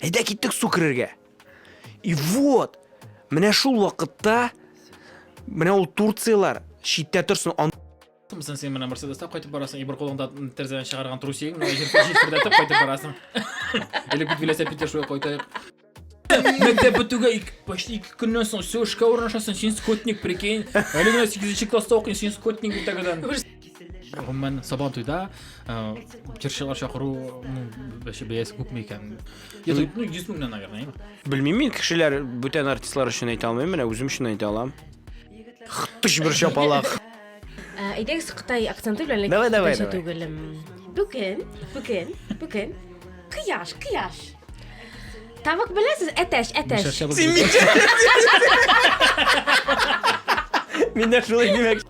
Әйдә киттек су керергә. И вот, менә шул вакытта менә ул Турциялар читтә торсын, ан Сен сен менә Мерседеста кайтып барасың, и бер кулыңда терзәдән чыгарган трусигың, менә җирдәтеп кайтып барасың. Или бит велосипедта шуя кайтайык. Мәктәп бетүгә почти ике көннән соң все эшкә урнашасың, син скотник, прикинь. Әле генә 8 класста укыйсың, син скотник бит тәгәдән. гомумән сабан туйда җырчылар чакыру бәясе күпме икән йөз меңнән наверное белмим мин кешеләр бүтән артистлар өчен әйтә алмыйм менә үзем өчен әйтә алам тыш бер шапалак әйдәгез кытай акценты белән давай давай түгел бүген бүген бүген кояш кояш Тавык беләсез? Әтәч, әтәч. Мин дә шулай димәк.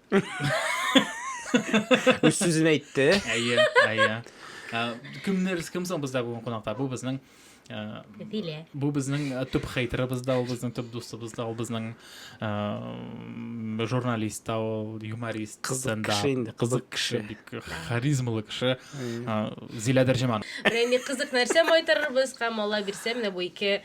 Үз сүзен әйтте. Әйе, әйе. Кемнәр, кем соң бездә бүгін кунакта? Бу безнең Зилә. Бу безнең төп хейтерыбыз да, ул безнең төп дустыбыз да, ул безнең журналист та, ул юморист. Кызык кеше инде. Кызык кеше, бик харизмалы кеше. Зилә Дәрҗеман. Менә кызык нәрсә майтарырбыз һәм Алла бирсә, менә бу ике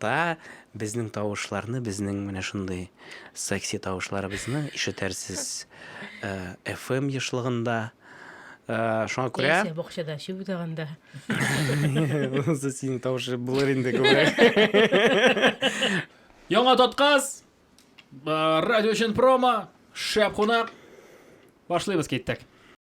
Та, безнең тавышларны, безнең менә шундый секси тавышларыбызны ишетәрсез FM ешлыгында. Шуңа күрә... Яисә бакчада чүп утаганда. Монысы синең тавышы булыр инде күбрәк. Яңа тоткас! Радио өчен промо! Шәп кунак! Башлыйбыз, киттек!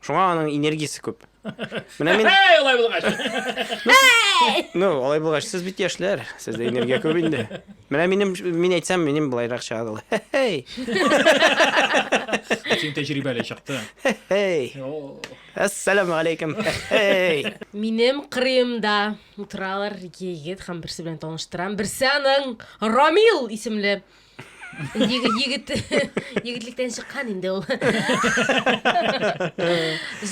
Шуңа аның энергиясе күп. Менә мин... Әй, алай булгач! Ну, алай булгач, сез бит яшьләр, сездә энергия күп инде. Менә минем, мин әйтсәм, минем былайрак чыгады ул. Хе-хей! Син тәҗрибәле чыкты. Хе-хей! Әссәламу алейкум! Хе-хей! Минем кырыемда утыралар ике егет һәм берсе белән таныштырам. Берсе аның Рамил исемле егет егетлектән чыккан инде ул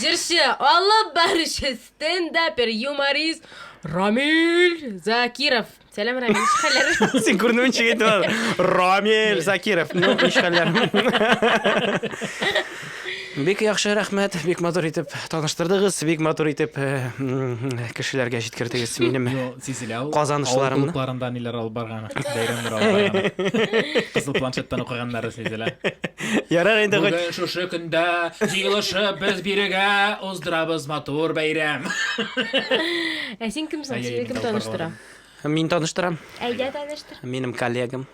җырчы алып баручы стендапер юморист рамиль закиров сәлам рамиль ничек хәлләр син күренүен чигәйттең рамиль закиров ну ничек хәлләр Бик яхшы, рәхмәт. Бик матур итеп таныштырдыгыз, бик матур итеп кешеләргә җиткердегез минем казанышларымны. Авыл клубларында ниләр алып барганы, бәйрәмнәр алып барганы. Кызыл планшеттан укыганнары сизелә. Ярар инде. Бүген шушы көндә җыелышып без бирегә уздырабыз матур бәйрәм. Ә син кем соң? Сине кем таныштыра? Мин таныштырам. Әйдә, таныштыр. Минем коллегам.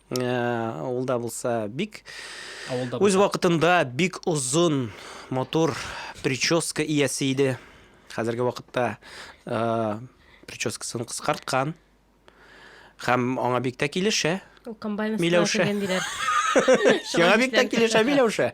Ә, ул да булса бик Авылда үз булса. вакытында бик озын матур прическа иясе иде. Хәзерге вакытта ә, прическасын кыскарткан. Һәм аңа бик тә килешә. Ул комбайн астына Миләүшә. кергән диләр. Яңа бик тә килешә Миләүшә.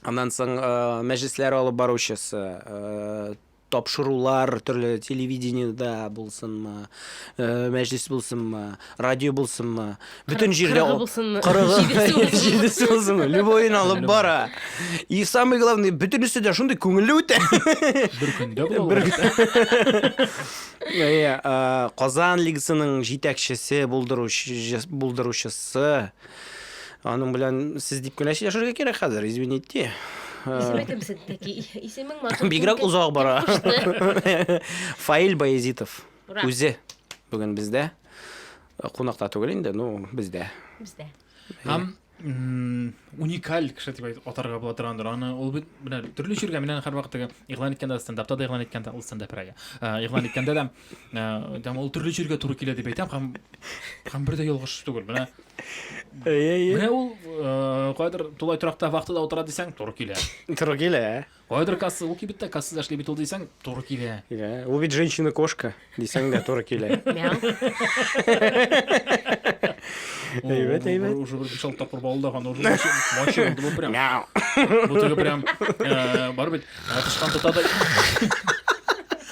Аннан соң мәҗлесләр алып баручысы, тапшырулар төрле телевидениедә булсынмы, мәҗлес булсынмы, радио булсынмы, бөтен җирдә булсынмы, җидесе булсынмы, любойын алып бара. И самый главный, бөтенесе дә шундый күңелле үтә. Бер көндә була. Казан лигасының җитәкчесе булдыручысы, Аның белән сез дип кенә сөйләшергә кирәк хәзер, извините. Исеме кем синеки? Исемең матур. Бигрәк озак бара. Фаил Баязитов. Үзе бүген бездә. Кунакта түгел инде, ну, бездә. Бездә. Һәм уникаль кеше дип атарга була торгандыр. Аны ул бит менә төрле җиргә менә һәрвакыт иглан иткәндә стендапта да иглан иткәндә ул стендап рәгә. Иглан иткәндә дә ә, ул төрле җиргә туры килә дип әйтәм һәм һәм бер дә ялгыш түгел менә менә ул э, кайдыр тулай торакта вахтада утыра дисәң туры килә туры килә ә? кайдыр касса ул кибеттә кассада эшли бит ул дисәң туры килә килә ул бит женщина кошка дисәң дә туры килә әйбәт әйбәт уже бер биш алты тапкыр балдаган уже мочи булды бу прям бу теге прям э, бар бит тычкан тота да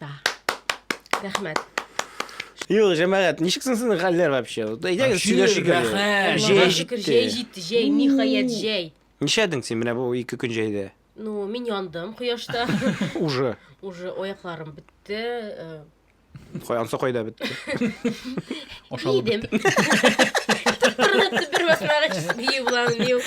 Да. Рәхмәт. Юк, җәмәгать, ничек соң сезнең хәлләр вообще? Әйдәгез сөйләшик. Рәхәт. Җәй җитте. Җәй җитте, җәй, ниһаять җәй. Нишәдең син менә бу ике көн җәйдә? Ну, мин яндым кояшта. Уже. Уже аякларым бетте. Э. Каянсы кайда бетте? Ашалып Идем. Тырнатып бер басмага чист бию булам бию.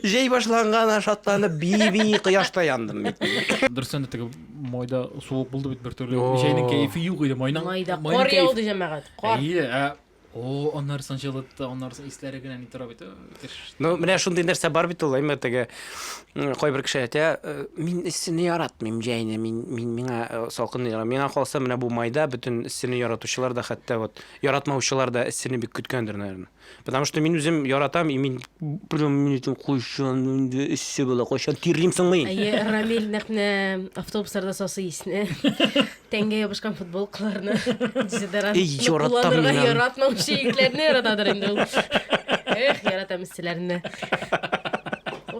Җәй башланган шатланып би-би кояшта яндым бит. Дөрестән дә теге майда суык булды бит бер төрле. О. Җәйнең кәефе юк иде. Майның Майда майның кар кәеф- яуды җәмәгать. Кар. Әйе, ә о, аннары санчылытты, аннары исләре генә ни тора бит. Ну, менә шундый нәрсә бар бит ул, әмма теге кайбер кеше әйтә, «Э, мин эссене яратмыйм җәйне, мин мин миңа э, салкынны яратам. Миңа калса, менә бу майда бөтен эссене яратучылар да хәтта вот яратмаучылар да эссене бик көткәндер, наверное. Потому что мин үзем яратам, и мин прям мин өчен кайчан инде эссе була, кайчан тирлим соң мин. Әйе, Рамил нәкъ менә автобусларда сасы исне. Тәнгә ябышкан футболкаларны, дезодорантны кулланырга яратмаучы итләрне яратадыр инде ул. Эх, яратам истеләрне.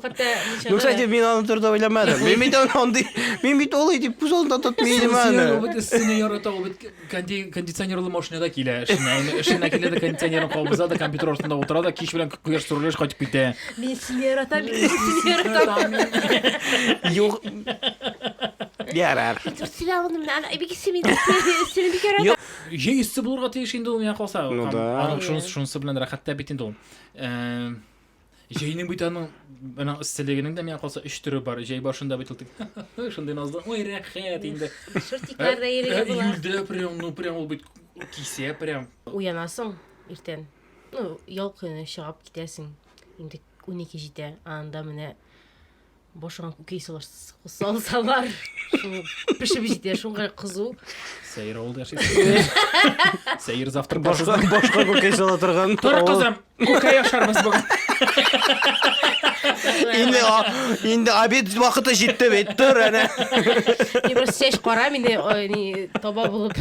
Хәтта Ну, кстати, мин аны турыда уйламадым. Мин бит аны андый, мин бит ул итеп күз алдында тотмыйм аны. Ул бит өстенә ярата, ул бит кондиционерлы машинада килә. Эшенә, эшенә килә дә кондиционерын кабыза да компьютер артында утыра да кич белән Кояш турылыш кайтып китә. Мин сине яратам, мин сине яратам. Юк. Ярар. Сине алдым, ана бик сине сине бик яратам. Җәй өсте булырга тиеш инде ул миңа калса. Ну да. Аның шунысы шунысы белән рәхәт тә бит инде ул. Э, Җәйнең бит аның аның эсселегенең дә миңа калса өч төре бар. Җәй башында бит ул тик шундый назлы. Ой, рәхәт инде. Шортикларда Ә, йөрергә була. Июльдә прям, ну прям ул бит кисә прям. Уянасың иртән. Ну, ял көне чыгып китәсең. Инде 12 җитә, анда менә башыңа күкей салсалар, шул пешеп җитә, шуңа кызу. Сәер авылда яшисең. Сәер завтрак башка башка күкәй сала торган. Тор кызым, күкәй ашарбыз бүген. Инде инде обед вакыты җитте бит, тор әнә. Мин просто чәч карам инде, таба булып.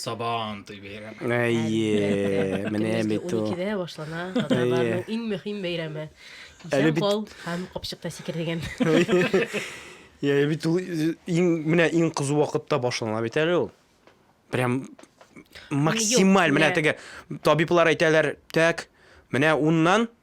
Сабан туй бәйрәме. Әйе, менә бит ул. 12-дә башлана татарларның иң мөһим бәйрәме. Исән кал һәм капчыкта сикер дигән. Я, бит ул иң менә иң кызу вакытта башлана бит әле ул. Прям максималь менә теге табиблар әйтәләр, так, менә уннан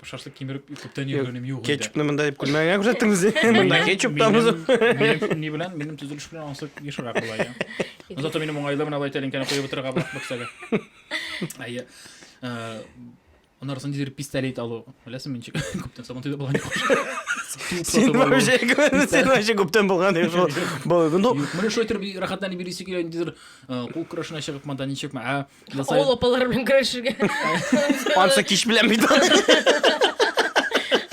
Шашлык кимереп күптән йөргәнем юк инде. Кетчупны монда дип күлмәгеңә күрсәттеңез ди. Монда кетчуп та бузып. Минем ни белән? Минем төзелеш белән анысы ешрак була ия. Зато минем уңайлы менә бай тәлинкәне куеп утырырга булак бөксәгә. Әйе. Э, Анарысын дидер пистолет алу. Беләсеңме ничек? Күптән сабан төйдә булган юк. Син вообще сен вообще күптән булган юк шул. Бу ну. Менә шулай торып рәхәтләнеп йөрисе килә дидер. Э, кул көрәшенә чыгып монда ничекме? Ә Насай- Авыл апалары белән көрәшергә. Ансы кич белән бит.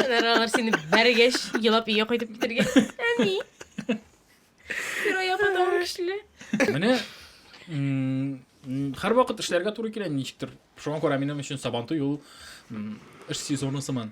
Аннары алар сине бәргәч, елап өйгә кайтып китәргә. Әни. Фирая потом көчле. Менә м, м, һәрвакыт эшләргә туры килә ничектер. Шуңа күрә минем өчен Сабантуй ул м, эш сезоны сыман.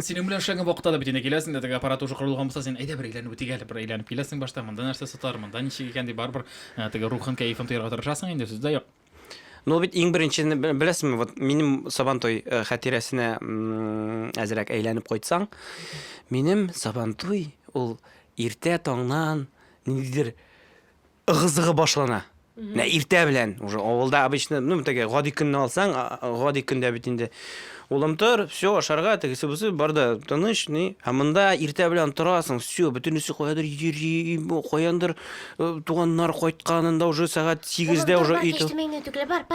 Синең белән эшләгән вакытта да бит инде киләсең дә теге аппарат уже корылган булса син әйдә бер әйләнеп үтик әле бер әйләнеп киләсең башта монда нәрсә сатар монда ничек икән дип барыбер ә, теге рухын кәефен тоярга тырышасың инде сүз дә юк Ну бит иң беренче беләсеңме, вот минем Сабантуй э, хәтирәсенә әзрәк әйләнеп кайтсаң, минем Сабантуй ул иртә таңнан ниндидер ыгы-зыгы башлана. Менә иртә белән уже авылда обычно, ну, теге гади көнне алсаң, гади көндә бит инде. Улым тор, все, ашарга, тегесе бусы бар да тыныч, ни. Ә монда иртә белән торасың, все, бөтенесе каядыр йөри, каяндыр э, туганнар кайтканында уже сәгать 8-дә уже өй тор.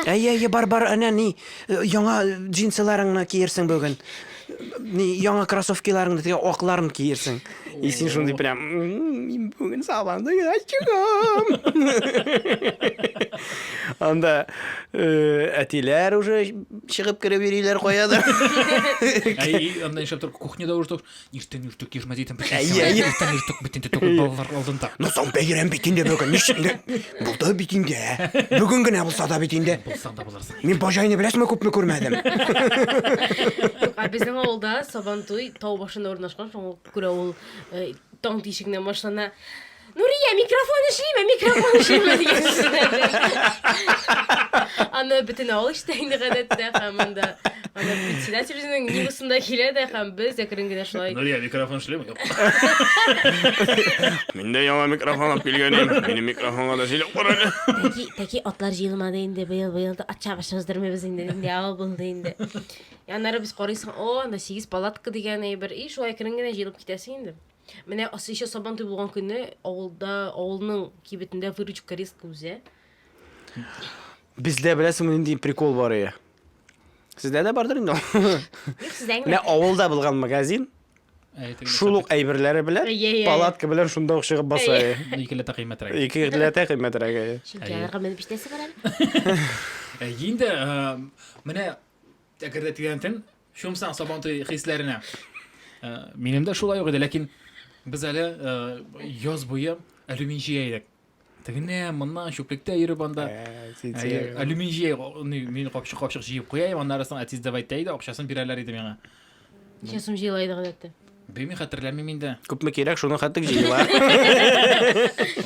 Әйе, әйе, бар, бар, әнә ни, э, яңа джинсыларыңны киерсең бүген. Ни яңа кроссовкиларыңны теге акларын киерсең. И син шундый прям мин бүген сабанда гына чыгам. Анда э, әтиләр уже чыгып кереп йөриләр каядыр. Әй, анда нишләп тор, кухняда уже тор. Иртән иртүк йөрмә дидем. Әйе, әйе. Иртән иртүк бит инде түгел балалар алдында. Ну соң бәйрәм бит инде бүген. Ничек инде? Булды бит инде. Бүген генә булса да бит инде. Булсаң да Мин Баҗайны беразмы күпме күрмәдем. Юк, ә безнең авылда Сабантуй тау башында урнашкан, шуңа күрә ул таң тишегеннән башлана. Нурия, микрофон эшлиме, микрофон эшлиме дигән Аны бөтен авыл ишетә инде гадәттә һәм анда аны председатель үзенең нигезендә килә дә һәм без әкрен генә шулай. Нурия, микрофон эшлиме? Мин дә яңа микрофон алып килгән идем. Минем микрофонга да сөйләп кара әле. Тәки, тәки атлар җыелмады инде быел, быел да ат чабыш уздырмыйбыз инде, нинди авыл булды инде. Ә Аннары без карыйсың, о, анда сигез палатка дигән әйбер, и шулай керен генә җыелып китәсең инде. Менә ас- еще сабан туй булган көнне авылда, авылның кибетендә выручка резко үзә. Бездә беләсеңме нинди прикол бар ие? Сездә дә бардыр инде. ул. Юк, сездә Менә генә. авылда булган магазин, Шул ук әйберләре белән палатка белән шунда ук чыгып баса. Икеләтә кыйммәтрәк. Икеләтә кыйммәтрәк. Чөнки аларга менеп иштәсе бар әле. Инде менә әгәр дә тирәнтен чумсаң сабантуй хисләренә. Минем дә шулай ук иде, ләкин без әле яз буе алюмин җыя идек. тегене моннан чүплектә йөреп анда алюмин җыя мин капчык капчык җыеп куяйм аннары соң әтиз давай тәй дә акчасын бирәләр иде миңа ничә сум җыела иде гадәттә белмим хәтерләмим инде күпме кирәк шуны хәтлек җыела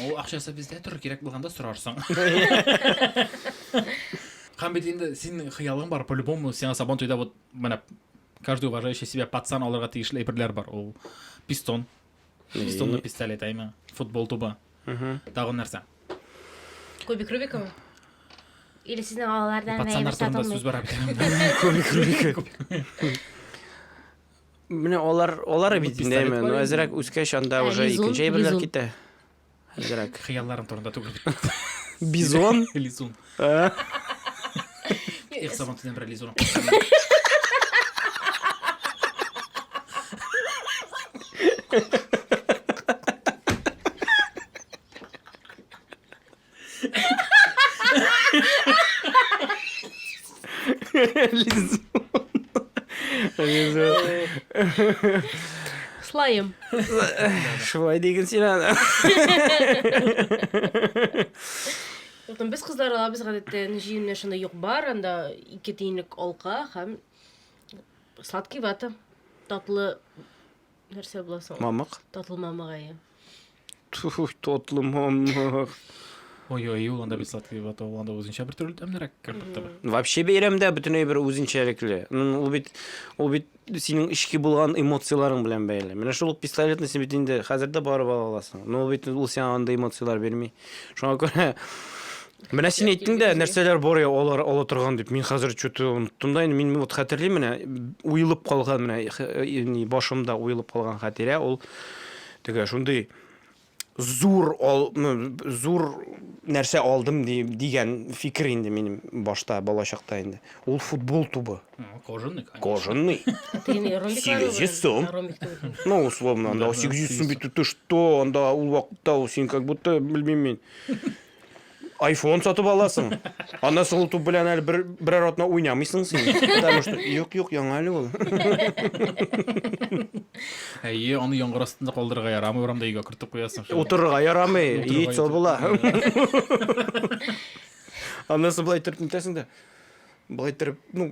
ул акчасы бездә торыр кирәк булганда сорарсың һәм бит инде синең хыялың бар по любому сиңа сабан туйда вот менә каждый уважающий себя пацан алырга тиешле әйберләр бар ул пистон Чистонлы И- пистолет әйме. Футбол тубы. Мгм. Тагын нәрсә? Кубик Рубикова. Или сезнең алалардан Пацаннар турында сүз бара бит. Кубик Рубика. Менә алар алар бит Пистолет әйме. бар Ну инде. әзрәк үскәч анда Ә, уже лизун, икенче әйберләр лизун. китә. Әзрәк. Хыялларым турында түгел. Бизон? Лизун. Ә? Их, сабан төнен бер лизун. Лизун. Лизун. Слайм. Шулай диген син аны. Юктан без кызлар алабыз гадәттә җыеннар шунда юк бар, анда ике тиенлек алка һәм сладкий вата. Татлы Нәрсә була соң? Мамык. Татлы мамык әйе. Ту, татлы мамык. Ой-ой, ул анда бит сладкий вата, ул анда үзенчә бер төрле тәмнерәк компотта бар. Вообще бәйрәмдә бөтенләй бер үзенчәлекле. Ну, Ул бит ул бит синең эчке булган эмоцияләрең белән бәйле. Менә шул ук пистолетны син бит инде хәзер дә барып ала аласың. Но ул бит ул сиңа андый эмоцияләр бирми. Шуңа күрә Менә син әйттең дә, нәрсәләр бар я алар ала торган дип. Мин хәзер чөтү оныттым да, мин вот хәтерлим менә уелып калган менә э, башымда уелып калган хәтирә ул теге шундый зур ал, зур нәрсә алдым ди, дигән фикер инде минем башта балачакта инде. Ул футбол тубы. Кожаный, конечно. Кожаный. 800 сум. Ну, условно, анда 800 сум бит ты что, анда ул вакытта син как будто белмим мин. Айфон сатып аласың. Аннан соң ул туп белән әле бер берәр атна уйнамыйсың син. Потому что юк, юк, яңа әле ул. Әйе, аны яңгыр астында калдырырга ярамый, урамда өйгә кертеп куясың. шул. Утырырга ярамый, Утырырга яйтсо ятып. була. Аннан соң болай торып нитәсең дә. Болай торып, ну,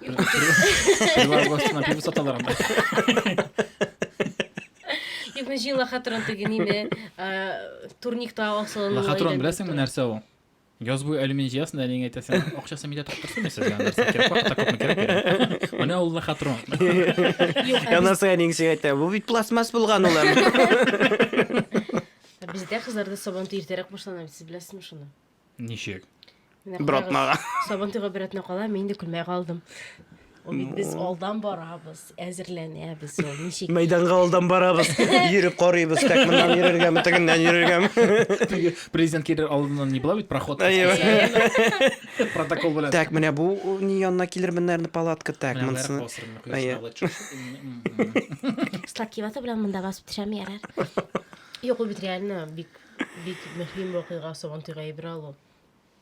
Пивар гостына пиво саталар анда. Юк, мин җыйла хатырын теге нине, э, турникта асылын. Лохотрон беләсеңме нәрсә ул? Яз буе алюминий җыясың да әниеңә әйтәсең, акчасын мидә тоттырсын мин сезгә нәрсә кирәк, вакытта күпме кирәк бирә. Менә ул лохотрон. Анасы әниң сиңа әйтә, бу бит пластмасс булган улым. Ә Бездә кызларда сабантуй иртәрәк башлана бит, сез беләсезме шуны? Ничек? Менә Бер карагыз, атнага. Сабантуйга бер атна кала, мин инде көлмәй калдым. Ул бит без алдан барабыз, әзерләнәбез ул. Ничек? Мәйданга алдан барабыз, йөреп карыйбыз, так моннан йөрергәме, тегеннән йөрергәме. Теге президент килер алдыннан не була бит проход. Әйе. специально. Протокол белән. Так, менә бу о, ни янына килермен, наверное, палатка, так, Менә монысы. аерып басырмын, Әйе. кояшны алып чыгып. М-м-м. Сладкий вата белән монда басып төшәм ярар. Юк, ул бит реально бик Бик мөһим вакыйга Сабан туйга әйбер алу.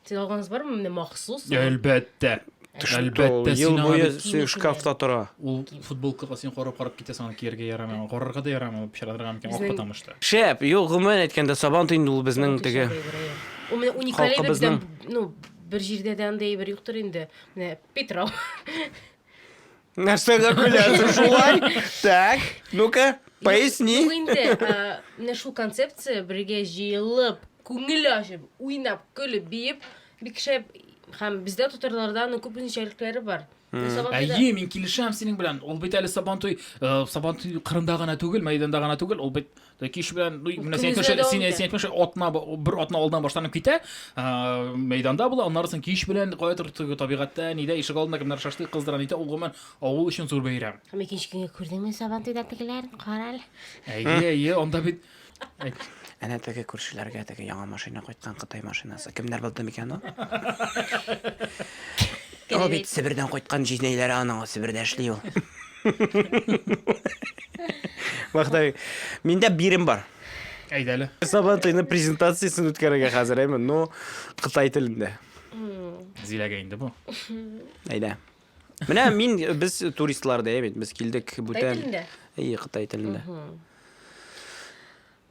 Сез алганыз бармы менә махсус? Әлбәттә. Әлбәттә, ел буе шкафта тора. Ул футболкага син карап-карап китәсең, аны кияргә ярамый, аны карарга да ярамый, ул пычратырга мөмкин, ак потому что. Шәп, юк, гомумән әйткәндә, Сабан туй инде ул безнең теге. Ул менә уникаль әйбер бездән, ну, бер җирдә дә андый әйбер юктыр инде. Менә Питрау. Нәрсәгә көләсең шулай? Так, ну-ка, поясни. Юк инде, ә, менә шул концепция бергә җыелып, күңел ачып, уйнап, көлеп, биеп, бик шәп һәм бездә татарларда аның күп үзенчәлекләре бар. Менә Сабантуйда- Әйе, мин килешәм синең белән. Ул бит әле Сабантуй, э, Сабантуй кырында гына түгел, мәйданда гына түгел, ул бит Кич белән ну, менә син әйтмешә, син, син әйтмешә, атна бер атна алдан башланып китә, ә, мәйданда була, аннары соң кич белән кайтыр табигатьтә, нидә ишек алдында кемнәр шашлык кыздыра, нидә ул гомумән авыл өчен зур бәйрәм. Һәм икенче көнгә күрдеңме сабан туйда тегеләр, кара әле. Әйе, әйе, анда бит Әнә теге күршеләргә теге яңа машина кайткан Кытай машинасы. Кемнәр булды микән ул? Ул бит Себердән кайткан җизнәйләре аның, Себердә эшли ул. Вахтай, миндә бирем бар. Әйт әле. Сабан туены презентациясен үткәрергә хәзер, әйме, но кытай телендә. Зиләгә инде бу. Әйдә. Менә мин без туристлар да бит, без килдек бүтән. Кытай телендә. Ие, кытай телендә.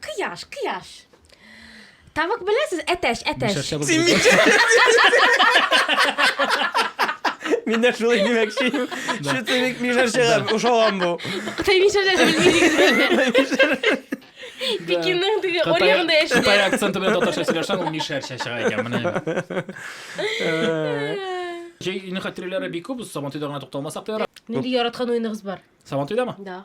Кыяш, кыяш. Тавык беләсез, әтәч, әтәч. Мишәрчә булып Син китә. Мин дә шулай димәкче идем. Чүтелек мишәрчәгә ошаган бу. Кытай мишәрчә дә белмидегез. Пекинның теге Кытай- орегында Кытай яшиләр. акценты белән татарча сөйләшсәң, ул мишәрчә чыга икән. Менә. Җәй ине хатирәләре бик күп, Сабантуйда гына тукталмасак та ярар. Нинди яраткан уеныгыз бар? Сабантуйдамы? Да.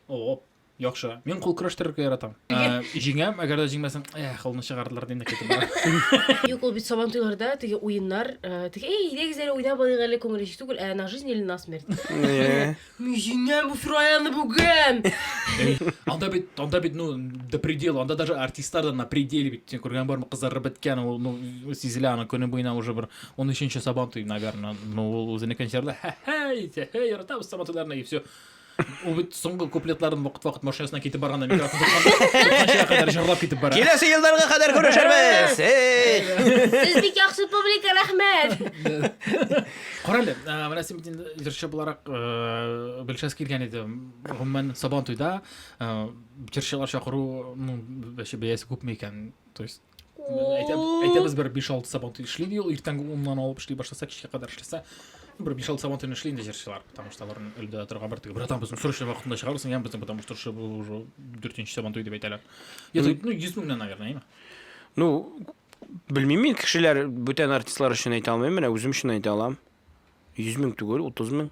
Оп. Яхшы. Мин кул көрәштерергә яратам. Ә, Җиңәм, әгәр дә җиңмәсәм, эх, кулны чыгардылар дип китеп барам. Юк, ул бит сабан туйларда теге уеннар, э, теге эй, идегез әле уйнап алыйк әле күңел ич түгел, ә на жизнь или на смерть. Э, Мин җиңәм бу фираяны бүген. Эй, Анда бит, анда бит, ну, до предела, анда даже артистлар да на пределе бит. Син күргән бармы, кызарып беткән, ул, ну, сизелә, аны көне буена уже бер 13 нче сабан туй, наверное. Ну, ул үзенекен җырда, ха-ха, итә, ха, яратабыз сабан туйларны, и все. Ул бит соңгы куплетларын вакыт-вакыт машинасына китеп барганда микрофон тотканчыга кадәр җырлап китеп бара. Киләсе елларга кадәр күрешербез. Сез бик яхшы публика, рәхмәт. Карале, менә син инде җырчы буларак белшәс килгән иде. Гомумән Сабан туйда җырчылар чакыру, ну, бәясе күпме икән? То есть әйтәбез бер биш алты сабан туй эшли ди ул иртәнге уннан алып эшли башласа кичкә кадәр эшләсә бер биш алты сабан туйны эшли инде җырчылар потому что алар өлгерә торган бер теге братан безнең срочно вакытында чыгарырсың яме безнең потому что уже дүртенче сабан туй дип әйтәләр ну йөз меңнән наверное яме ну белмим мин кешеләр бүтән артистлар өчен әйтә алмыйм менә үзем өчен әйтә алам йөз мең түгел утыз мең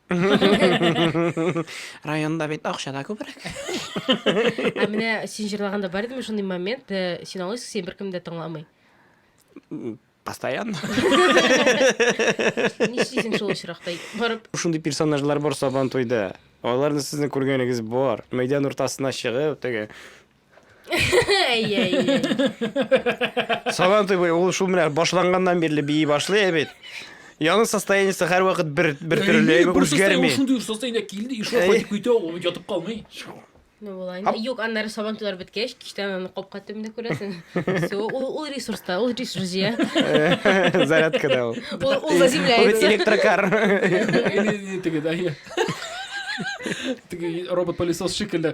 Районда бит акча да күбрәк. Ә менә син җырлаганда бар идеме шундый момент, э, син алайсың, син беркем дә тыңламый. Постоянно. Нишлисең шул очракта барып? Шундый персонажлар бар Сабантуйда. Аларны сезнең күргәнегез бар. Мәйдан уртасына чыгып, теге Сабан туй бой, ул шул менә башланганнан бирле бии башлый ә бит. Яны состояниесе һәр вакыт бер бер төрле әйбер үзгәрми. Ул шундый состояние килде, и шул кайтып китә, ул ятып калмый. Ну була. Юк, аннары сабан туйлар беткәч, кичтән аны капка төбендә күрәсең. Все, ул ул ресурста, ул ресурс җыя. Зарядка да ул. Ул ул заземляется. Электрокар. Или или тиги да. Тиги робот-пылесос шикелле.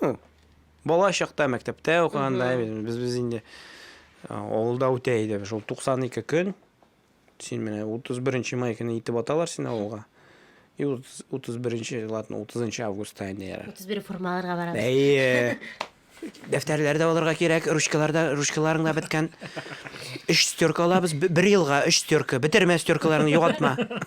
Ну, бала чакта мәктәптә укыганда без без инде авылда үтә иде. Шул 92 көн. Син менә 31 май көне итеп аталар син авылга. И 31 ладно, 30 августта инде яра. 31 формаларга барабыз. Әйе. Дәфтәрләр дә алырга кирәк, ручкалар да, ручкаларың да беткән. Өч стерка алабыз, бер елга өч стерка. Бетермә стеркаларны, югатма.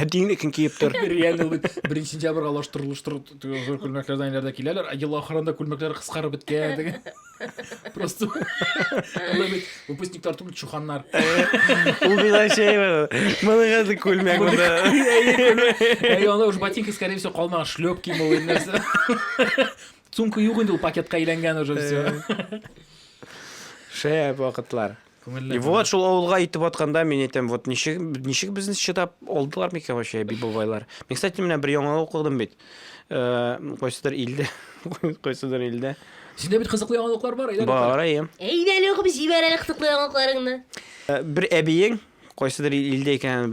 Ә динне кем киеп тор? Реально ул бит беренче сентябрьгә алыштырылыштыру зур күлмәкләрдән әйләрдә киләләр, ә ел ахырында күлмәкләр кыскарып беткән диген. Просто анда бит выпускниклар түгел, чуханнар. Ул била шәй бар. Моны хәзер күлмәк монда. Әй, анда уж ботинка, скорее всего, калмаган, шлепки мо или нәрсә. Сумка юк инде ул пакетка әйләнгән уже все. Шәп вакытлар. Күңелле. И вот шул авылга итеп атканда мин әйтәм, вот ничек ничек безне чыдап алдылар микән вообще би бабайлар. Мин кстати менә бер яңа укыдым бит. Э, кайсыдыр илдә, кайсыдыр илдә. Синдә бит кызыклы яңалыклар бар, әйдә. Бар, әйе. Әйдә әле укып җибәр әле кызыклы яңалыкларыңны. Э, бер әбиең кайсыдыр илдә икән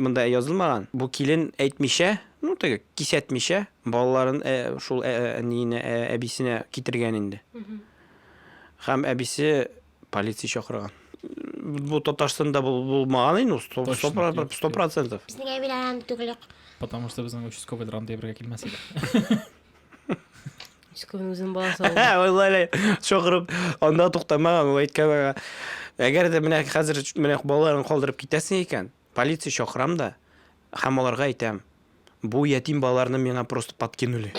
монда язылмаган. Бу килен әйтмичә, ну теге кисәтмичә балаларын э, шул әниенә, әбисенә китергән инде. Һәм әбисе полиция чакырган. Бу Татарстанда булмаган инде, 100%. Без нигә биләлән түгелек? Потому что безнең участковый ранда ябырга килмәс иде. Участковый үзен баласы алды. Валлай, чакырып, анда туктамаган, ул әйткән. Әгәр дә менә хәзер менә балаларын калдырып китәсең икән, Полиция чакырам да һәм аларга әйтәм, бу ятим балаларны миңа просто подкинули.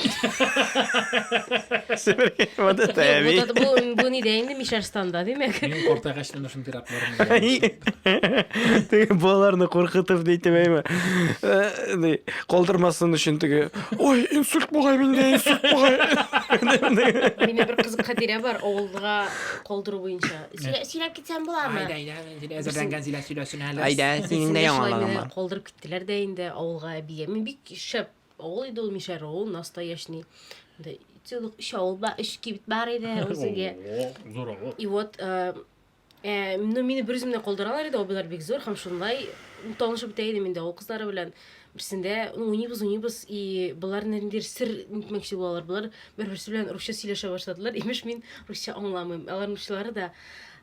Бу нидә инде Мишәрстанда, димәк. Мин картайгач менә шундый пиракларны. Теге балаларны куркытып дитеп әйме. Калдырмасын өчен теге, ой, инсульт бугай миндә, инсульт бугай. Минем бер кызык хатирә бар, авылга калдыру буенча. Сөйләп китсәм буламы? Син әзердән Гәнзилә сөйләсен әле. Әйдә, синең дә яңалыгың бар. Калдырып киттеләр дә инде авылга әбигә. Мин бик шәп авыл иде ул мишәр авыл, настоящий. Монда целых өч авыл бар, өч кибет бар иде үзегә. Зур авыл. И вот э, э, ну, мине бер үземне калдыралар иде, абыйлар бик зур һәм шунлай танышып бетә идем инде авыл кызлары белән. Берсендә ну, уйныйбыз, уйныйбыз, и болар ниндидер сер нитмәкче булалар. Болар бер-берсе белән русча сөйләшә башладылар. Имеш, мин русча аңламыйм. Аларның русчалары да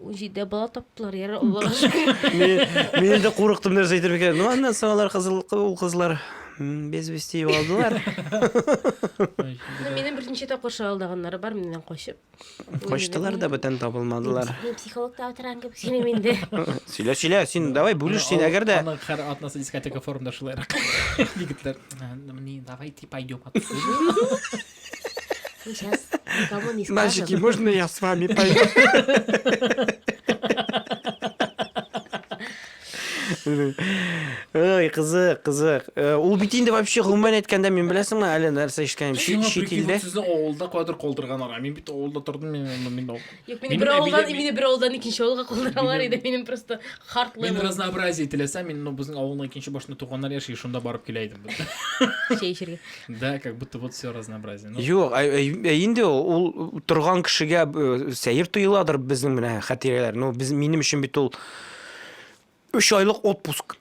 Унҗиде бала таптылар, яр Аллага шөкер. Мин, мин инде курыктым нәрсә әйтер икән. Ну, аннан соң алар кызыл ул кызлар м, без вести югалдылар. Ну, Минем берничә тапкыр шагалдаганнары бар миннән качып. Качтылар да бүтән табылмадылар. Мин психологта утырган кебек сөйлим инде. Сөйлә, сөйлә, син давай бүлеш син, әгәр дә Аның һәр атнасы дискотека форумда шулайрак. Егетләр, «Ә, ну, не, давайте пойдем отсюда». Сейчас никому не скажем. Мальчики, можно я с вами пойду? Ой, кызык, кызык. Э, ул бит инде вообще гомумән әйткәндә мин беләсеңме, әле нәрсә ишеткәнем чит илдә. Сезнең авылда кадр калдырганнар. Мин бит авылда тордым, мин мин Юк, мине бер авылдан, мине бер авылдан икенче авылга калдыралар иде, минем просто хартлы. Мин разнообразие теләсәм, мин ну безнең авылның икенче башында туганнар яши, шунда барып килә идем. Чәй эчәргә. Да, как будто вот все разнообразие. Юк, ә э, э, инде ул торган кешегә э, сәер тоеладыр безнең менә хатирәләр. Ну без минем өчен бит ул 3 айлык отпуск.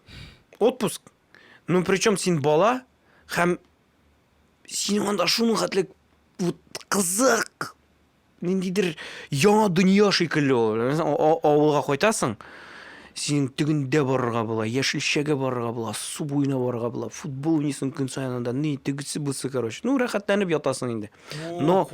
Отпуск. Ну причем син бала һәм син анда шуның хәтле вот кызык ниндидер яңа дөнья шикелле ул. Авылга кайтасың, синең тегендә барырга була, яшелчәгә барырга була, су буена барырга була, футбол уйныйсың көн саен анда, ни, тегесе бусы, короче. Ну, рәхәтләнеп ятасың инде. Но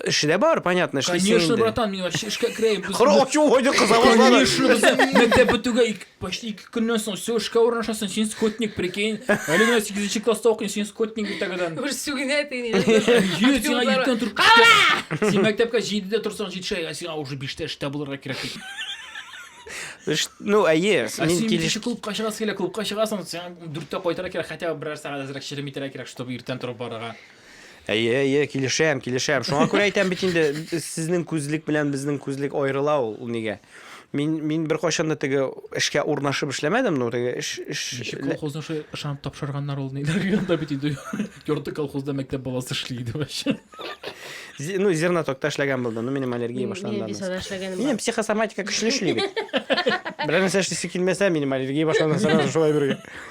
эше дә бар, понятно, эшлисең инде. Конечно, братан, мин вообще эшкә керәйем. Кыр ачу кайда кыза башлады. Конечно, без мәктәп бетүгә почти Көннән соң все эшкә урнашасың, син скотник, прикинь. Әле генә 8 класста укыйм, син скотник бит тәгәдән. Бер сүгенә тени. Йөз сиңа иртән торып. Син мәктәпкә 7-дә торсаң 7 шәйгә, сиңа уже 5-тә эштә булырга кирәк. Ну, әйе, мин килеш. Клубка чыгасы килә, клубка чыгасың, сиңа 4-тә кайтырга кирәк, хотя бы берәр сәгать әзрәк чирем итәргә кирәк, чтобы иртән торып барырга. Әйе, әйе, килешәм, килешәм. Шуңа күрә әйтәм бит инде, сезнең күзлек белән безнең күзлек аерыла ул, ул нигә? Мин мин беркайчан да теге эшкә урнашып эшләмәдем, но теге эш эш Ничек колхозны шулай ышанып тапшырганнар ул ниләр янда бит инде ярты колхозда мәктәп баласы эшли иде вообще. Ну, зернотокта эшләгән булды, ну минем аллергия башланды. Минем психосоматика көчле эшли бит. Берәр нәрсә эшлисе килмәсә, минем аллергия башланды сразу шулай бергә.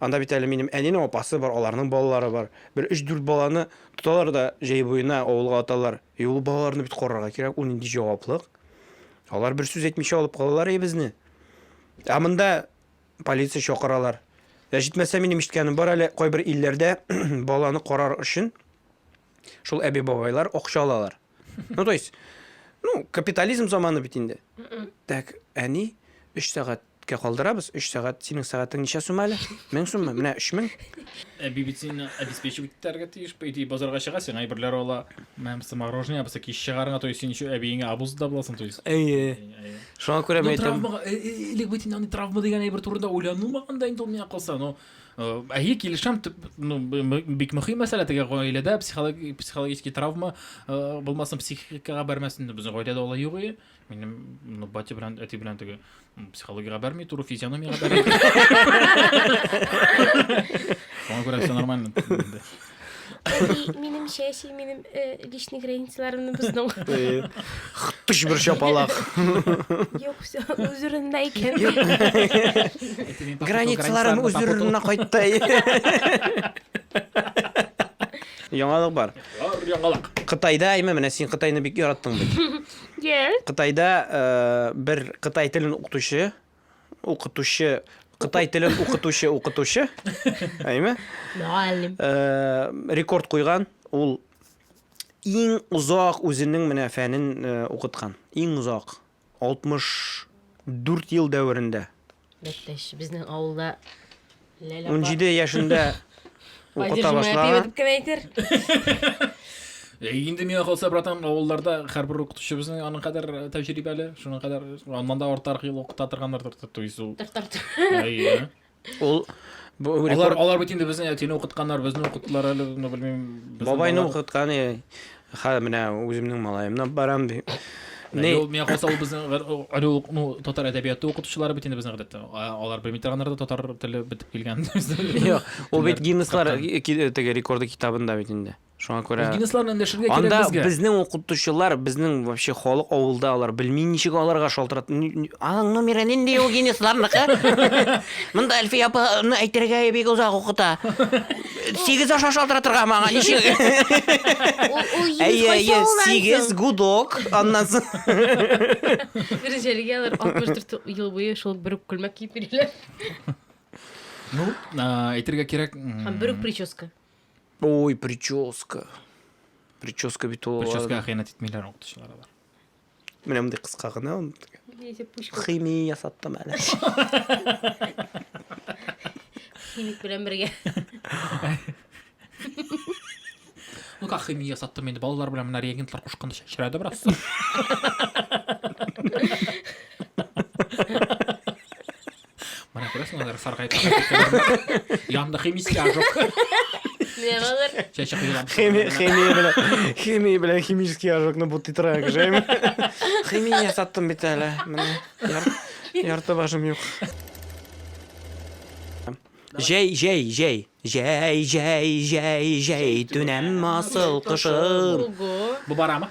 Анда бит әле минем әнинең апасы бар, аларның балалары бар. Бер өч-дүрт баланы тоталар да җәй буена авылга аталар. И ул балаларны бит карарга кирәк, ул нинди җаваплык. Алар бер сүз әйтмичә алып калалар өебезне. Ә монда полиция чакыралар. Ә җитмәсә минем ишеткәнем бар әле, кайбер илләрдә баланы карар өчен шул әби-бабайлар акча алалар. Ну, то есть, ну, капитализм заманы бит инде. Так, әни, өч сәгать кә калдырабыз, өч сәгать, синең сәгатең ничә сум әле? Мең суммы? Менә өч мең. Ә бит син обеспечивать итәргә тиеш, по идее, базарга чыга, сиңа әйберләр ала, мәмсә мороженое, баса киш чыгарыңа, то есть син еще әбиеңә абуз да буласың, то есть. Әйе. Шуңа күрә мин әйтәм. Элек бит инде андый травма дигән әйбер турында уйланылмаган да инде ул миңа калса, но Әйе, килешәм, ну, бик мөһим мәсьәлә теге гаиләдә психологи психологический травма булмасын, психикага бәрмәсен. Безнең гаиләдә алай юк иде. Минем ну, батя белән әти белән теге психологиягә бәрми, туры физиономиягә бәрми. Моңа күрә все нормально. Минем чәчи, минем личный границаларымны бозның. Хтыш бер шапалак. Юк, все, үзүреннә икән. Границаларым үзүреннә кайтты. Яңалык бар. Яңалык. Кытайда, әйме, менә син Кытайны бик яраттың бит. Yes. Кытайда бер Кытай телен укытучы укытучы Кытай телен укытучы укытучы, әйме? Мөгаллим. Э, рекорд куйган, ул иң озак үзенең менә фәнен э, укыткан. Иң озак 64 ел дәверендә. Бәттәш, безнең авылда Ләлә Унҗиде яшендә укыта башлаган. дип кем әйтер? Э, инде миңа калса, братан, авылларда һәрбер укытучыбызның аның кадәр э, тәҗрибәле, шуның кадәр аннан да артарак ел укыта торганнар тартып туйсу. Әйе. Ул бу алар рекорд алар бит инде безне әтине укытканнар, безне укыттылар әле, ну белмим. безнең бабайны балалар- укыткан. э, Хәзер менә үземнең малаемны алып барам, ди. Менә Ни- юл миңа калса ул безнең гыр- о- ыру ук- ну, татар әдәбияты укытучылары бит инде безнең гадәттә. А- Алар белми торганнар да татар теле бетеп килгән. Юк, ул бит Телләр Гиннесслар капкан. ки- ки- теге рекорды китабында бит инде. Шуңа Ул күрә Гиннессларны эндәшергә кирәк Анда безгә. безнең укытучылар, безнең вообще халык авылда алар белми ничек аларга шалтырат. Ни- ни- Аның номеры нинди ул Гиннессларныкы? Монда Әлфия апаны әйтергә бик озак укыта. Сигез аша шалтыратырга ма аңа ничек? Әйе, әйе, сигез гудок. Аннан соң. Гринҗәлегә алар 64 ел буе шул бер үк күлмәк киеп йөриләр. Ну, әйтергә кирәк. Һәм бер үк прическа. Ой, прическа. Прическа бит ул. Прическа хыянәт итмиләр укытучылар алар. Менә мондый кыска гына ул. Химия ясаттым әле. Химик белән бергә. Ну как химия ясаттым инде балалар белән менә реагентлар кушканда чәчрәде бераз. мына күрәсең алар саргайып янында химический ожог менә алар чәчәк юлап химия белән химия белән химический ожогны бутый тора кешем химия ясаттым бит әле менә ярты башым юк Җәй, җәй, җәй. Җәй, җәй, җәй, җәй, төнәм асыл кышым. Бу барамы?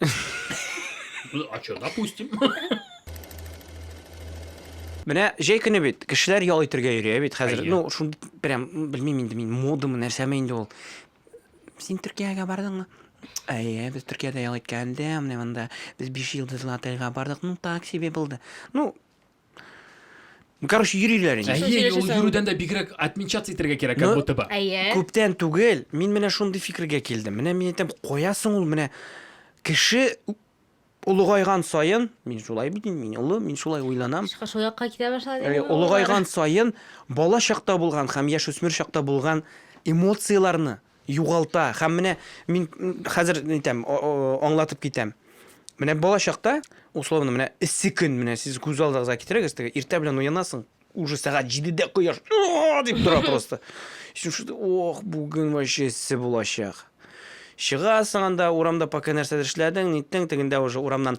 А что, допустим. Менә җәй көне бит, кешеләр ял итергә йөри, бит хәзер. Ну, шундый прям белмим инде мин, модамы, нәрсәме инде ул. Син Төркиягә бардыңмы? Әйе, без Төркиядә ял иткәндә, менә монда без биш йолдызлы отельгә бардык. Ну, так себе булды. Ну, Ну, короче, йөриләр инде. Әйе, ул йөрүдән дә бигрәк отмечаться итәргә кирәк, как будто бы. Күптән түгел, мин менә шундый фикергә килдем. Менә мин әйтәм, каясың ул менә кеше олыгайган саен, мин шулай бит, мин олы, мин шулай уйланам. Шул якка китә башлады. Э, олыгайган саен бала чакта булган һәм яшүсмер чакта булган эмоцияләрне Югалта һәм менә мин хәзер әйтәм, аңлатып китәм. Менә бала чакта, условно, менә эссе көн, менә сез күз алдыгызга китерегез, теге иртә белән уянасың, уже сәгать 7-дә кояш дип тора просто. Син шуды, ох, бүген вообще эссе булачак. Чыгасың анда урамда пока нәрсәдер эшләдең, ниттең, тегендә уже урамнан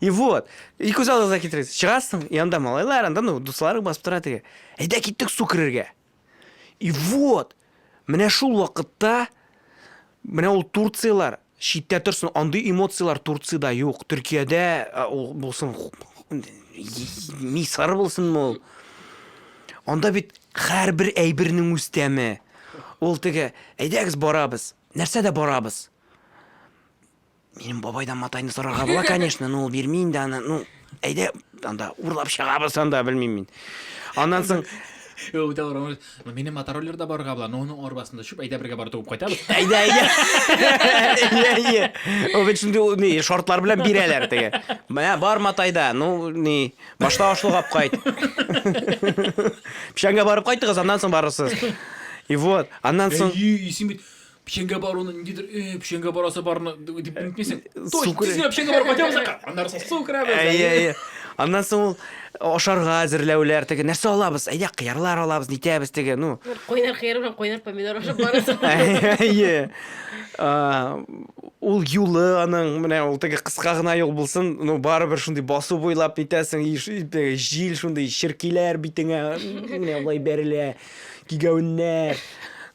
И вот. И күз алдыңызга китерегез. Чыгасың, и анда малайлар, анда ну, дусларың басып тора теге. Әйдә киттек су керергә. И вот. Менә шул вакытта менә ул Турциялар читтә торсын, андый эмоциялар Турцияда юк. Төркиядә ул булсын мисыр булсынмы ул? Анда бит һәрбер әйбернең үз тәме. Ул теге, әйдәгез барабыз. Нәрсә дә барабыз. Минем бабайдан матайны сорарга була, конечно, но ул бирми инде аны. Ну, әйдә, анда урлап чыгабыз анда, белмим мин. Аннан соң Ул да барам. Ну, минем мотороллер да барга була, но оның арбасында чүп, әйдә бергә барып туып кайтабыз. Әйдә, әйдә. Әйдә, әйдә. Ул бит шундый ул, ни, шартлар белән бирәләр теге. Менә бар матайда, ну, ни, башта ашлыгап кайт. Печәнгә барып кайтыгыз, аннан соң барырсыз. И вот, аннан соң Әйе, исем бит. печеньгә баруны ниндидер э, печеньгә барасы барны дип э, үтмисең су тизгенә печеньгә барып кайтабыз аннары соң су керәбез әйе әйе аннан соң ул ашарга әзерләүләр теге нәрсә алабыз әйдә кыярлар алабыз нитәбез теге ну кайнар кыяр белән кайнар помидор ашап барасың әйе ул юлы аның менә ул теге кыска гына юл булсын ну барыбер шундый басу буйлап нитәсең жил шундый черкиләр битеңә менә болай бәрелә Кигәүннәр.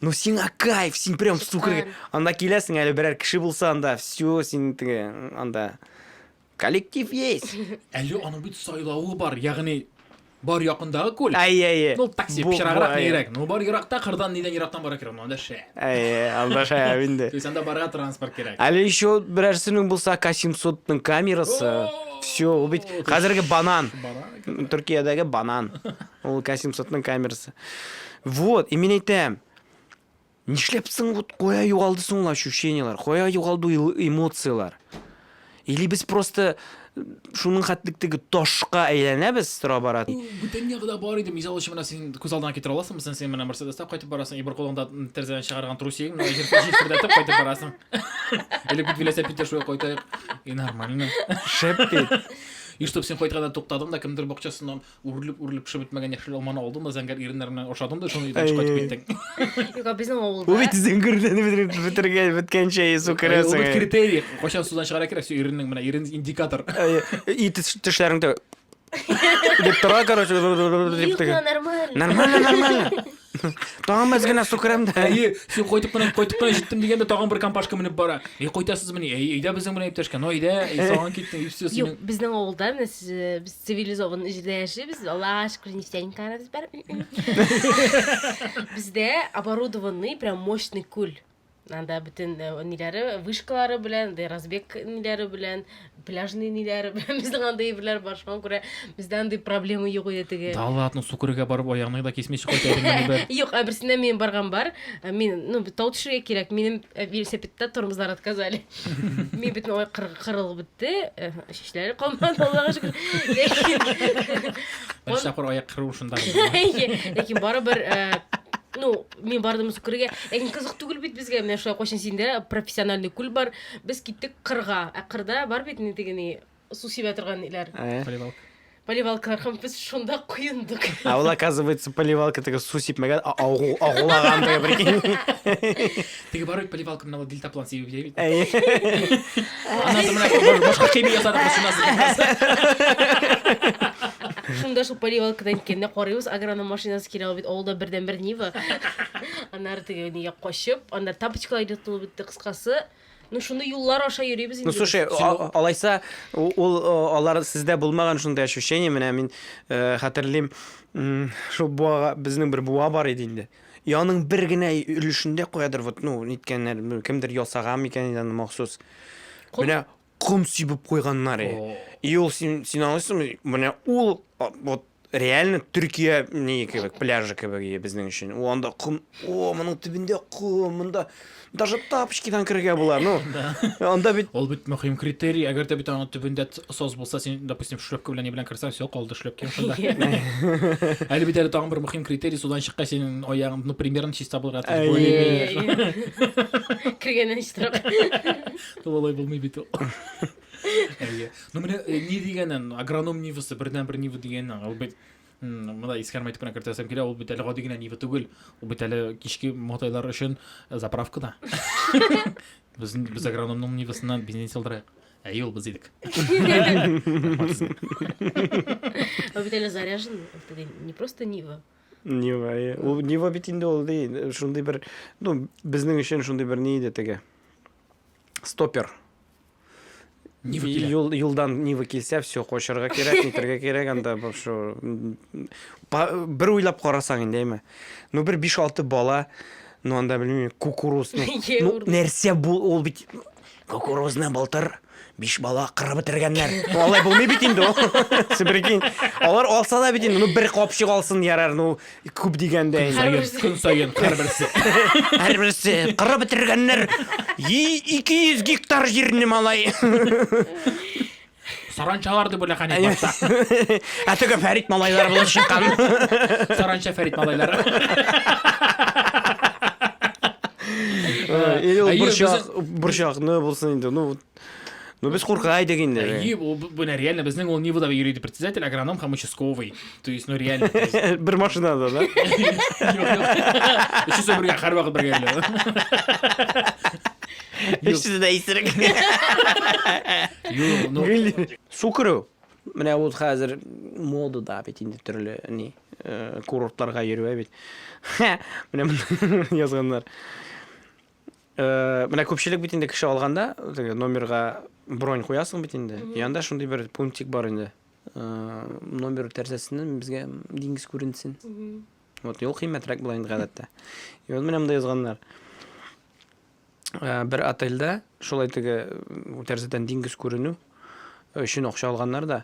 Ну сиңа кайф, син прям сукыр. Анда киләсең әле берәр кеше булса анда, все, син теге анда коллектив есть. Әле аның бит сайлавы бар, ягъни бар якындагы күл. Әйе, әйе. Ну такси пычраграк нирәк. Ну бар еракта кырдан нидән ерактан бара кирәк, анда шәп. Әйе, анда шәп инде. То есть анда барга транспорт кирәк. Әле еще берәрсенең булса К700-ның камерасы. Все, ул бит хәзерге банан. Төркиядәге банан. Ул К 700 ның камерасы. Вот, и мин әйтәм. Нишләп соң вот кая югалды соң ул ощущениелар? Кая югалды ул эмоциялар? Или без просто э, шуның хәтлектеге ташка әйләнәбез тора бара. Бүтән ягыда бар иде. Мисал өчен менә син күз алдына китерә аласыңмы? Син син менә Мерседеста кайтып барасың, и бер кулыңда тәрәзәдән чыгарган трусигың менә җир җирпердәтеп кайтып барасың. Или бит велосипедта шулай кайтайык. И нормально. Шәп бит. И чтоб син кайтканда туктадың да кемдер бакчасыннан үрелеп үрелеп пешеп бетмәгән яшел алманы алдың да зәңгәр иреннәр белән ашадың да шуны өйдән чыгып кайтып киттең. Юк, безнең авылда. Ул бит зәңгүрләне бетереп бетергән беткәнчә ису Ул керәсең. бит критерий. Кайчан судан чыгара кирәк, все иреннең менә ирен индикатор. И теш- тешләреңдә дип тора, короче, дип Юк, тегә. нормально. Нормально, нормально. Тагын мәз генә су керәм дә. Әйе, син кайтып кына, кайтып кына җиттем дигәндә тагын бер компашка менеп бара. Әй, кайтасызмыни? Әй, әйдә безнең белән иптәшкә. Ну, әйдә, әй, салган киттең, и все, Юк, синең. безнең авылда менә сез, э, без цивилизованный җирдә яшибез. Аллага шөкер, нефтяникаларыбыз бар. Бездә оборудованный, прям мощный күл. Анда бөтен э, ниләре, вышкалары белән, дә разбег ниләре белән, пляжный ниләре белән безнең анда әйберләр бар. Шуңа күрә бездә андый проблема юк иде теге. Да ладно, сукырга барып аягыңны да кисмей чыгып кайтырмын бер. Юк, ә берсендә мин барган бар. Ә Мин, ну, тау төшергә кирәк. Минем э, велосипедта тормозлар отказали. Мин бөтен ой кыр- кырылып бетте. Э, Шишләре калмады, Аллага шөкер. Ләкин- Бер чакыр аяк кыру шунда. Ләкин барыбер, э, ну, Мин бардым су күрергә. Ләкин кызык түгел бит безгә. Менә шулай кайчан синдә профессиональный күл бар. Без киттек кырга. Ә кырда бар бит инде теге ни су сибә торган иләр. Поливалка. Поливалкалар һәм без шунда коендык. А ул оказывается поливалка теге су сипмәгән, агу агулаган теге прикинь. Теге бар бит поливалкамналы дельтаплан сибеп җәй бит. Әйе. Аннан соң менә башка кеби ясадык без шуннан соң. Шунда шул поливалкадан киткәндә карыйбыз, агроном машинасы килә ул бит авылда бердән бер Нива. Аннары теге нигә качып, аннары тапочкалар йотылып бетте кыскасы. Ну шуны юллар аша йөрибез инде. Ну слушай, а- а- алайса у- ул о, алар сездә булмаган шундый ощущение, менә мин э, хәтерлим, м, шул буага безнең бер буа бар иде инде. И аның бер генә өлешендә каядыр вот, ну, ниткәннәр, ну, кемдер ясаган микән инде аны махсус. Ком? Менә ком сибеп куйганнар. и. О. И ул син син аңлыйсыңмы? Менә ул а, вот реально Төркия ни кебек, пляжы кебек и безнең өчен. Ул анда ком, о, моның төбендә ком, монда Даже тапочкидан керергә була, ну. Анда бит Ул бит мөһим критерий. Әгәр дә бит аның төбендә сос булса, син, допустим, шлепка белән ни белән керсәң, все, калды шлепкең шунда. Әле бит әле тагын бер мөһим критерий, судан чыккач, синең аягың, ну, примерно чиста булырга тиеш. Более-менее. Кергәннән чистарак. Тулай булмый бит ул. Әйе. Ну, менә э, ни дигәнен, агроном нивасы, бердән-бер нива дигәнен, ул бит Монда искәрмә итеп кенә кертәсем килә, ул бит әле гади генә Нива түгел, ул бит әле кичке мотайлар өчен э, заправка да. Без без агрономның Нивасыннан бензин салдырайык. Әйе, ул без идек. Ул бит әле заряжен, ул бит не просто Нива. Нива, иә. Ул Нива бит инде ул ди, шундый бер, ну, безнең өчен шундый бер ни иде теге. Стопер. Нива килә. Юл, юлдан Нива килсә, все, кочырга кирәк, нитергә кирәк, анда вообще бер уйлап карасаң инде, әйме. Ну бер 5-6 бала, ну анда белмим, кукуруз, ну, ну нәрсә бу, ул бит кукурузны былтыр биш бала кырып бетергәннәр. Ну алай булмый бит инде ул. Сибрикин. Алар алса да бит инде, ну бер капчык алсын ярар, ну Күп дигәндә инде. Һәрбер көн саен һәрберсе. Һәрберсе кырып бетергәннәр. 200 гектар җирне малай. Саранчалар дип уйлаган иде башта. Ә теге Фәрит малайлар булып чыккан. Саранча Фәрит малайлары. Или ул борчак, борчакны булсын инде. Ну, Ну без курка идек инде. Әйе, ул бу реально безнең ул Нивада йөри дип председатель, агроном һәм участковый. То есть, ну реально. Бер машинада, да? Өчесе бергә һәр вакыт бергә йөри. Өчесе дә исерек. Юк, ну. Су керү. Менә ул хәзер модада бит инде төрле ни э, курортларга йөрү бит. Менә язганнар. Э, менә күпчелек бит инде кеше алганда, теге номерга бронь куясың бит инде. Янда шундый бер пунктик бар инде. Э, номер тәрәзәсеннән безгә диңгез күренсен. Вот юл кыйммәтрәк була инде гадәттә. И вот менә монда язганнар. Э, бер отельдә шулай теге тәрәзәдән диңгез күренү өчен акча алганнар да.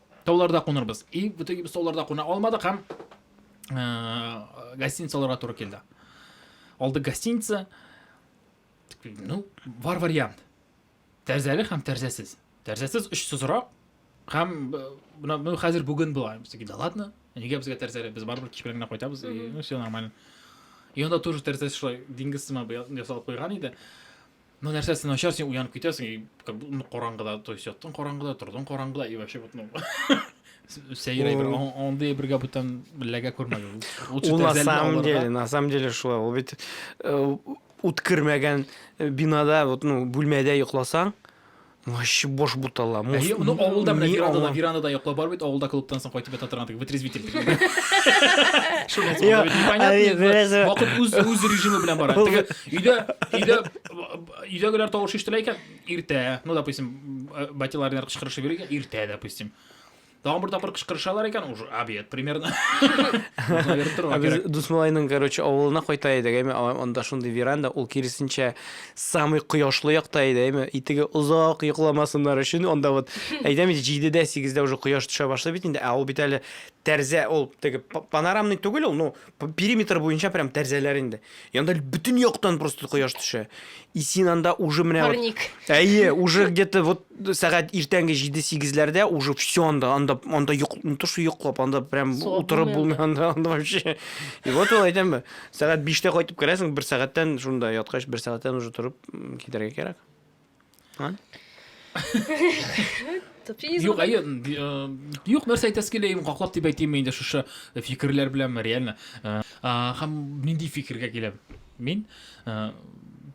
Тауларда кунырбыз. И в итоге без тауларда куна алмадык һәм гостиница алырга туры килде. Алдык гостиница. Ну, бар вариант. Тәрзәле һәм тәрзәсез. Тәрзәсез өч сызрак һәм мына ну, хәзер бүген була. Без да ладно. Нигә безгә тәрзәле? Без барыбер кич белән генә кайтабыз. Ну, все нормально. И анда тоже тәрзәсе шулай диңгез сыман ясалып куйган иде. Ну нәрсә син начар син уянып китәсең и как будто ну караңгыда то есть яттың караңгыда тордың караңгыда и вообще вот ну сәер әйбер андый әйбергә бүтән ләгә күрмәгез лучше на самом деле на самом деле шулай ул бит э, үткермәгән э, бинада вот ну бүлмәдә йокласаң Вообще бош бутала. Мус... Әйе, ну авылда менә веранда да, веранда да йоклап бар бит, авылда клубтан соң кайтып ята торган теге вытрезвитель. Вакыт үз үз режимы белән бара. Теге өйдә өйдә өйдәгеләр тавыш ишетелә икән, иртә, ну допустим, батиларның кычкырышы бирә икән, иртә допустим. Тагын бер тапкыр кычкырышалар икән, уже обед примерно. Ә без Дусмалайның, короче, авылына кайта идек, әйме, анда шундый веранда, ул киресенчә самый кояшлы якта иде, әйме, итеге озак йокламасыннар өчен, анда вот, әйтәм инде, җидедә, сигездә уже кояш төшә башлый бит инде, ә ул бит әле тәрзә, ул теге панорамный түгел ул, ну, Периметр буенча прям тәрзәләр инде. Янда бөтен яктан просто кояш төшә. И син анда уже менә Парник. Вот, әйе, уже где-то вот сәгать иртәнге 7-8-ләрдә уже все анда, анда, анда йоқ, не то что йоклап, анда прям утырып булмый анда, анда вообще. И вот ул әйтәм бе, сәгать 5-тә кайтып керәсең, бер сәгатьтән шунда яткач, бер сәгатьтән уже торып китәргә кирәк. Ан? Юк, әйе, э, юк, нәрсә әйтәсе килә, ем каклап дип әйтим инде шушы фикерләр белән реально. Э, һәм нинди фикергә киләм? Мин э,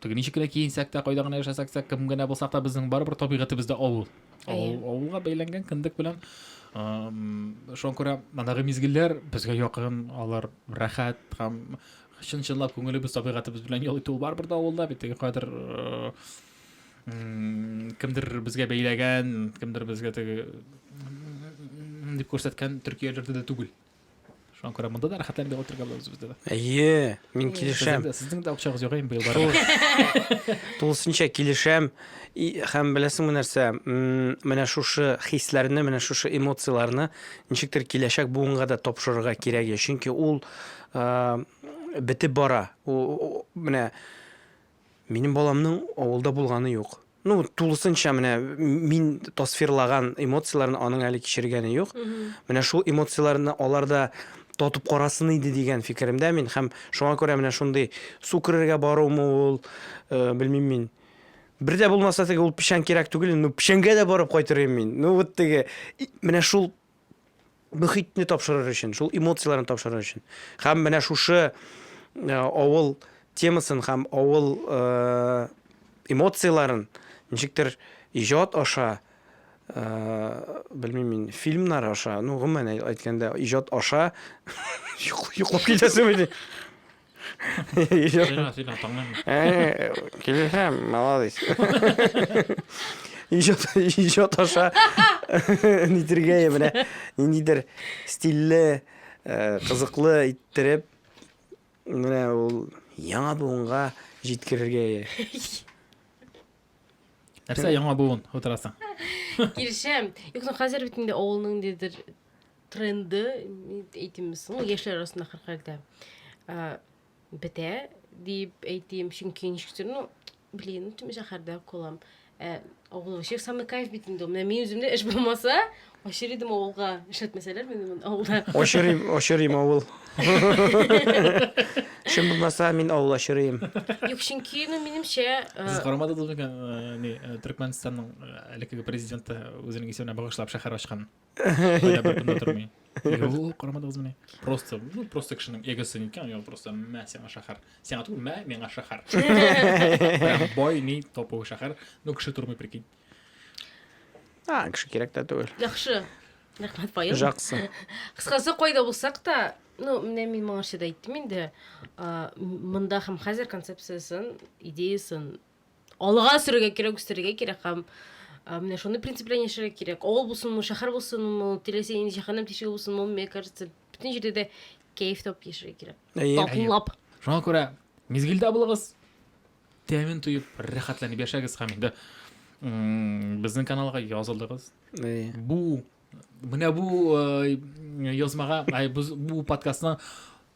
теге ничек кенә киенсәк тә, кайда гына яшәсәк тә, кем генә булсак та, безнең барыбер табигатебездә авыл. Авылга бәйләнгән кендек белән шуңа күрә мандагы мизгелләр безгә якын, алар рәхәт һәм Чын чынлап күңелебез табигатыбыз белән ял итү барбыр да авылда бит теге кадер кемдер безгә бәйләгән, кемдер безгә теге дип күрсәткән төркияләрдә дә түгел. Шуңа күрә монда да рәхәтләнеп ял итәргә булабыз бездә дә. Әйе, мин килешәм. Сезнең дә акчагыз юк инде быел барып. Тулысынча килешәм. Һәм беләсеңме нәрсә? Менә шушы хисләрне, менә шушы эмоцияләрне ничектер киләчәк буынга да тапшырырга кирәк. Чөнки ул Бетеп бара. Менә минем баламның авылда булганы юк. Ну, тулысынча менә мин тасфирлаган эмоцияләрне аның әле кичергәне юк. Менә шул эмоцияләрне аларда татып карасын иде дигән фикеремдә мин һәм шуңа күрә менә шундый су керергә барумы ул, э, белмим мин. Бер дә булмаса теге ул печән кирәк түгел, ну печәнгә дә барып кайтыр идем мин. Ну вот теге менә шул мөхитне тапшырыр өчен, шул эмоцияләрне тапшырыр өчен. Һәм менә шушы э, авыл темасын һәм авыл э, эмоцияләрен ничектер иҗат аша э, белмим мин фильмнар аша ну гомумән әйткәндә иҗат аша йоклап китәсең Сөйлә, сөйлә, тыңлыйм. Э, Килешәм, молодец. Иҗат, иҗат аша нитергә я менә ниндидер стильле, э, кызыклы иттереп менә ул яңа буынга җиткерергә я. Нәрсә яңа буын утырасың? Килешәм. Юк, ну хәзер бит инде авылның дидер тренды әйтим соң яшьләр арасында хәрхәрдә бетә дип әйтим чөнки ничектер ну блин тим шәһәрдә калам ә авыл вообще самый кайф бит инде менә мин үземдә эш булмаса ашыр идем авылга эшләтмәсәләр мине авылда ашырыйм ашырыйм авыл Шым булмаса мин авыл ашырыйм. Юк, чөнки ну минемчә Сез карамадыгыз микән не Түркменстанның әлеге президенты үзенең исеменә багышлап шәһәр ачкан? Кайда бер көнде тормый. Юк, карамадыгыз менә. Просто, ну, просто кешенең эгосы икән, я просто мә сиңа шәһәр. Сиңа түгел, мә миңа шәһәр. Прям бай, ни, топы шәһәр. Ну, кеше тормый, прикинь. А, кеше кирәк тә түгел. Яхшы. Рәхмәт, Павел. Жақсы. Кыскасы, кайда булсак та, ну, менә мин моңарчы да әйттем инде, монда һәм хәзер концепциясын, идеясын Алга үстерергә кирәк, үстерергә кирәк һәм менә шуны принцип белән яшәргә кирәк. Авыл булсынмы, шәһәр булсынмы, теләсә нинди җәһәннәм тишеге булсынмы, мне кажется, бөтен җирдә дә кәеф тап яшәргә кирәк. Татлап. Шуңа күрә мизгелдә булыгыз, тәмен тоеп, рәхәтләнеп яшәгез һәм инде безнең каналга язылыгыз. Бу менә бу язмага, бу подкастның